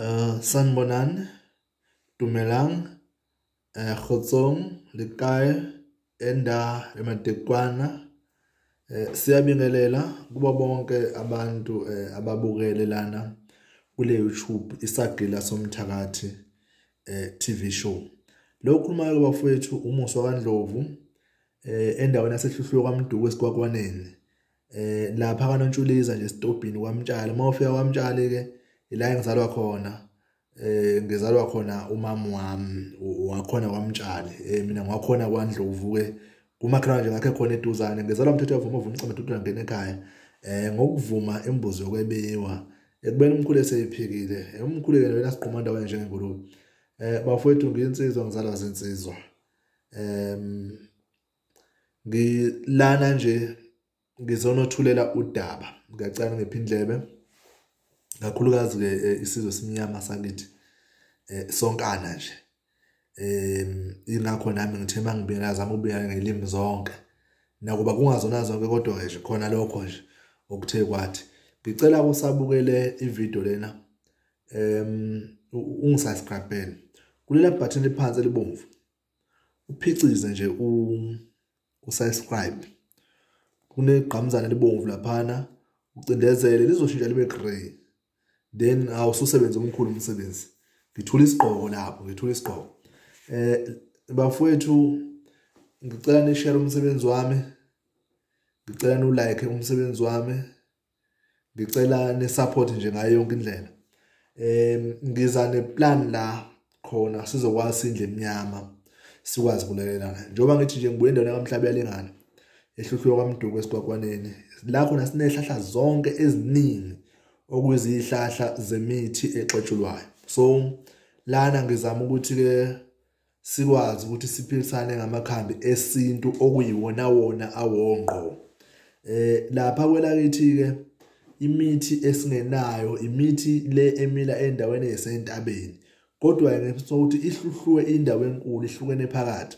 uh, sanibonani dumelang uh, kgotsong le kae enda ematekwana uh, siyabingelela kubo bonke abantu uh, ababukele lana kule youtube isagila somthakathi uh, tv show lo khulumayo ke bafowethu umuso kaNdlovu eh endaweni yaseHluhluko kwaMduku esikwakwaneni eh lapha kanoNtshuliza nje stobhini kwaMtshali uma ufika kwaMtshali ke ila engizalwa khona eh ngizalwa khona umama wami wakhona kwaMtshali eh mina ngwakhona kwaNdlovu ke kumakhaya nje ngakhe khona eduzane ngizalwa umthetho yavuma uvuma umcimbi dudu ngene ekhaya eh ngokuvuma imbuzi yokwebiwa ekubeni umkhulu eseyiphikile eh, umkhulu yena wena siqhuma ndawo njengengulube eh bafowethu ngiyinsizwa ngizalwa zinsizwa em ngilana nje ngizonothulela udaba ngiyacela ngiphi indlebe kakhulukazi-ke eh, isizwe simnyama sakithi eh, sonkana nje um ingakho nami ngithe uma ngibingelela zama ukubingelela ngeyilimi zonke nakuba kungazona zonke kodwa-ke nje khona lokho nje okuthe kwathi ngicela kusabukele ividiyo lena um ungisubscribele kulela bhathini liphansi elibomvu uphicize nje u usubscribe kunegqamuzana libomvu laphana ucindezele lizoshintsha libe grey then awususebenza omkhulu umsebenzi ngithula isigqoko lapho ngithula isigqoko eh bafowethu ngicela nishare umsebenzi wami ngicela nolike umsebenzi wami ngicela ne support nje ngayo yonke indlela em ngiza ne plan la khona sizokwazi indle emnyama sikwazi kulekelana njengoba ngithi nje ngibuye endaweni kamhlabi yalengana ehluhlwe kwamduku esigwagwaneni la khona sinehlahla zonke eziningi okuyizihlahla zemithi exetshulwayo so lana ngizama ukuthi ke sikwazi ukuthi siphilisane ngamakhambi esintu okuyiwona wona awongqo eh lapha kwelakithi ke imithi esingenayo imithi le emila endaweni esentabeni kodwa ngifisa ukuthi ihluhluwe indawo enkulu ihlukene phakathi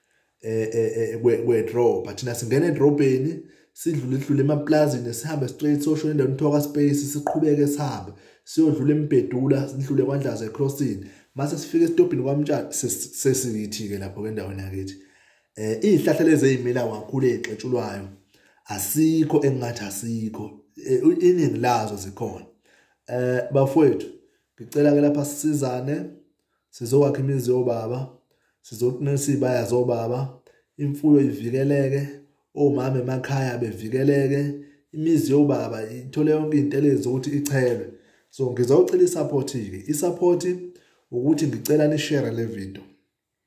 eh, eh, eh, kwedrobha thina singena edrobheni sidlule dlule emaplazini sihambe straight sosho endaweni thoka space siqhubeke sihambe siyodlula embedula sidlule kwandlaza ecrossing mase sifike esitobhini kwamtshana sesiyithike lapho endaweni yakithi eh izihlahla lezi ezimila kakhulu ezixetshulwayo asikho engathi asikho eh, iningi lazo zikhona eh bafowethu ngicela ke lapha sisizane sizokwakha imizi yobaba sizoqinisa iy'baya zobaba imfuyo ivikeleke omama emakhaya bevikeleke imizi yobaba ithole yonke into elenza ukuthi ichelwe so ngizocela isaphothi-ke isaphothi ukuthi ngicela nishere le video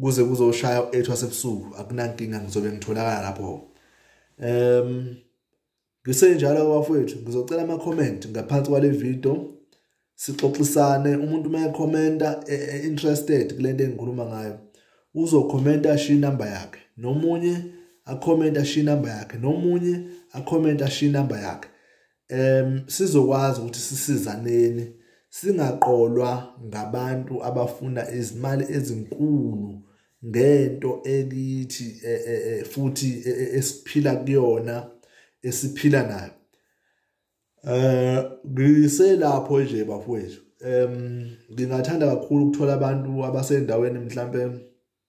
kuze kuzoshaya u-8 wasebusuku akunankinga ngizobe ngitholakala lapho um ngisenjalo bafowethu ngizocela ama-comment ngaphansi kwale video sixoxisane umuntu uma ekhomenta e, e, interested kule nto engikhuluma ngayo uzokhomenta ashiye inamba yakhe nomunye akhomenta ashiye inamba yakhe nomunye akhomenta ashiye inamba yakhe em sizokwazi ukuthi sisizaneni singaqolwa ngabantu abafuna izimali ezinkulu ngento ekithi e, e, e, futhi esiphila kuyona esiphila nayo eh ngiselapho nje bafowethu em ngingathanda kakhulu ukuthola abantu abasendaweni mhlambe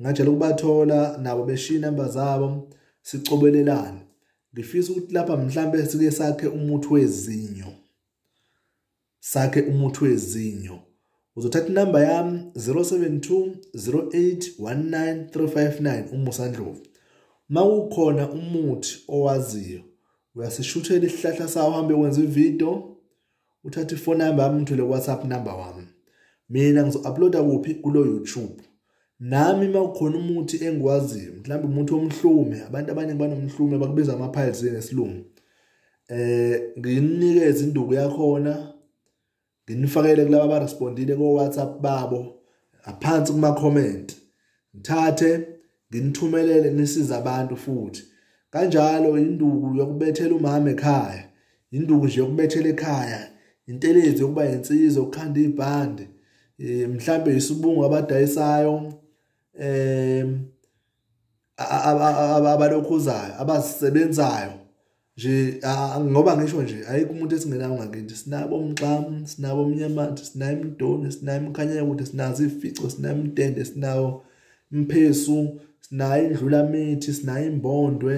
ngajela ukubathola nabo beshiya inamba zabo sicobelelane ngifisa ukuthi lapha mhlambe sike sakhe umuthi wezinyo sakhe umuthi wezinyo uzothatha inamba yami 072 0819359 umusa ndlovu uma kukhona umuthi owaziyo uyasishuthela isihlahla sawo hambe wenza ividiyo uthathe ifone number yami ngithole whatsapp number wami mina ngizo-uploada kuphi kulo youtube nami uma kukhona umuthi engiwaziyo mhlawumbe umuthi omhlume abantu abaningi banomhlume bakubiza ama-piles ngesilungu eh nginikeze induku yakhona nginifakele kulaba abarespondile ko-whatsapp babo ngaphansi kuma-comment Ngithathe nginithumelele nisiza abantu futhi. Kanjalo induku yokubethela umama ekhaya, induku nje yokubethela ekhaya, intelezi yokuba insizwa ukukhanda ibhande, eh, mhlambe isibungu abadayisayo eh abalokhuzayo abazisebenzayo nje ngoba ngisho nje ayikho umuntu esingenawo ngakithi sinabo umxamu sinabo umnyamanthi sinayo imidoni sinayo imikhanyakude sinazo izifico sinayo imtende sinawo imphesu sinayo indlulamithi sinayo imbondwe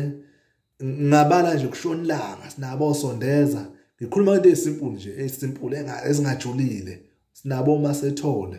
ngabala nje kushona ilanga sinabo sondeza ngikhuluma into esimple nje esimple ezingajulile sinabo masethole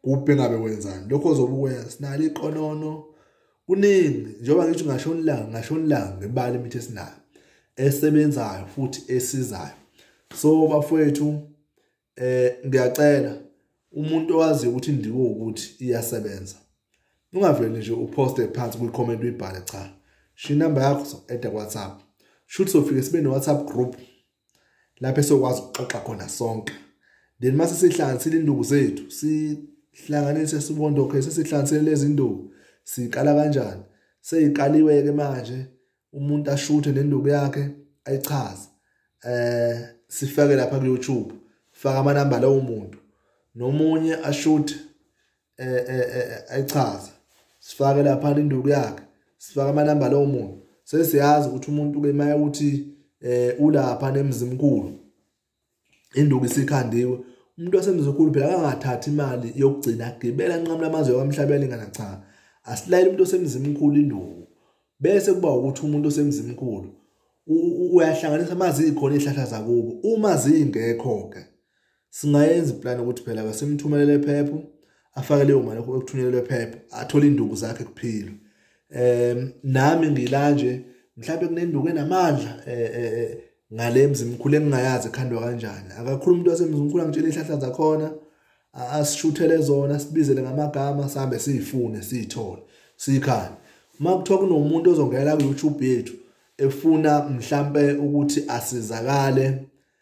kuphi engabe wenzani lokho ozobe ukwenza sinalo iqonono kuningi njengoba ngithi ngashona ilanga ngashona ilanga ngebali imithi esinayo esebenzayo futhi esizayo so bafowethu eh ngiyacela umuntu owazi ukuthi indiwo ukuthi iyasebenza ungavele nje uposte phansi kwi comment uyibhale cha shi number yakho so add WhatsApp shuthi sofike sibe ne WhatsApp group lapho esokwazi ukuxoxa khona sonke then mase sihlanganisile induku zethu sihlanganise sibonde okay sesihlanganisile lezi induku siqala kanjani seyiqaliwe ke manje umuntu ashuthe nenduku yakhe ayichaze eh sifake lapha ku YouTube faka amanamba lawo muntu nomunye ashuthe eh, eh, eh, ayichaze sifake lapha induku yakhe sifake amanamba lowo muntu sesiyazi ukuthi umuntu ke maye ukuthi eh ulapha nemzimkhulu induku isikhandiwe umuntu wasemzimkhulu phela akangathathi imali yokugcina agibela nqamla amazwe kwamhlabela ingana cha asilayile umuntu osemzimkhulu induku bese kuba ukuthi umuntu osemzimkhulu uyahlanganisa amazi khona ihlahla zakubo uma zingekho ke singayenza iplan ukuthi phela kasimthumelele phepho afake leyo mali yakho ekuthunyelelwe phepho athole induku zakhe kuphilo um nami ngila nje mhlawumbe kunenduku enamandla eh, eh, eh, ngale mzimkhulu engingayazi ekhandwa kanjani akakhulu umuntu wasemzimkhulu angitshela ihlahla zakhona asishuthele zona sibizele ngamagama sihambe siyifune siyithole siyikhane uma kuthiwa kunomuntu ozongena ku-youtube yethu efuna mhlampe ukuthi asizakale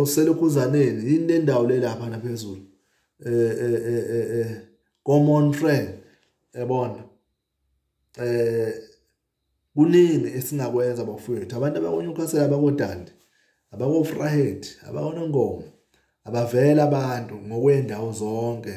oselokhuzaneni yini lendawo lelapha naphezulu eh eh eh eh, eh common friend yabona eh kuningi esingakwenza bafowethu abantu abakoNewcastle abakodandi abakofrahead abakona ngoma abavela abantu ngokwendawo zonke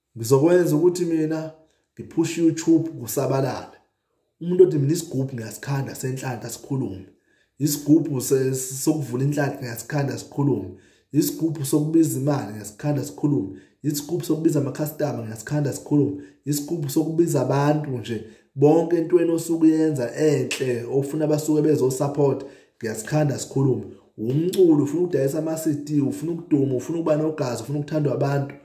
ngizokwenza ukuthi mina ngiphushe YouTube kusabalale umuntu othi mina isigubhu ngiyasikhanda senhlanhla sikhulume isigubhu sokuvula inhlanhla ngiyasikhanda sikhulume isigubhu sokubiza imali ngiyasikhanda sikhulume isigubhu sokubiza amakhastama ngiyasikhanda sikhulume isigubhu sokubiza abantu nje bonke entweni osuke yenza enhle ofuna basuke bezosupport ngiyasikhanda sikhulume umculo ufuna ukudayisa ama-cd ufuna ukuduma ufuna ukuba nogazi ufuna ukuthandwa abantu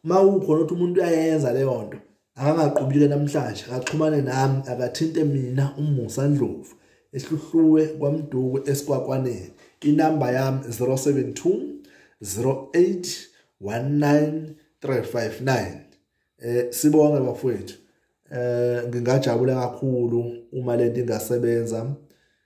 uma ukhona ukuthi umuntu uyayenza leyo nto akangaqubike namhlanje akaxhumane nami akathinte mina umusa ndlovu esihluhluwe kwamduku esikwakwaneni inamba yami 072 08 19359 eh sibonge bafowethu eh ngingajabula kakhulu uma lento ingasebenza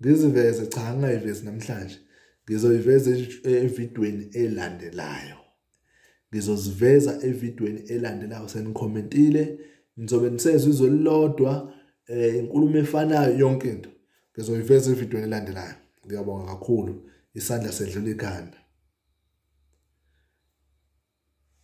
ngiziveze cha ngingayivezi namhlanje ngizoyiveza evidweni elandelayo ngizoziveza evidweni elandelayo senikhomentile ngizobe nisezwe izwe elilodwa eh, inkulumo efanayo yonke into ngizoyiveza evidweni elandelayo ngiyabonga kakhulu isandla sedlula ikhanda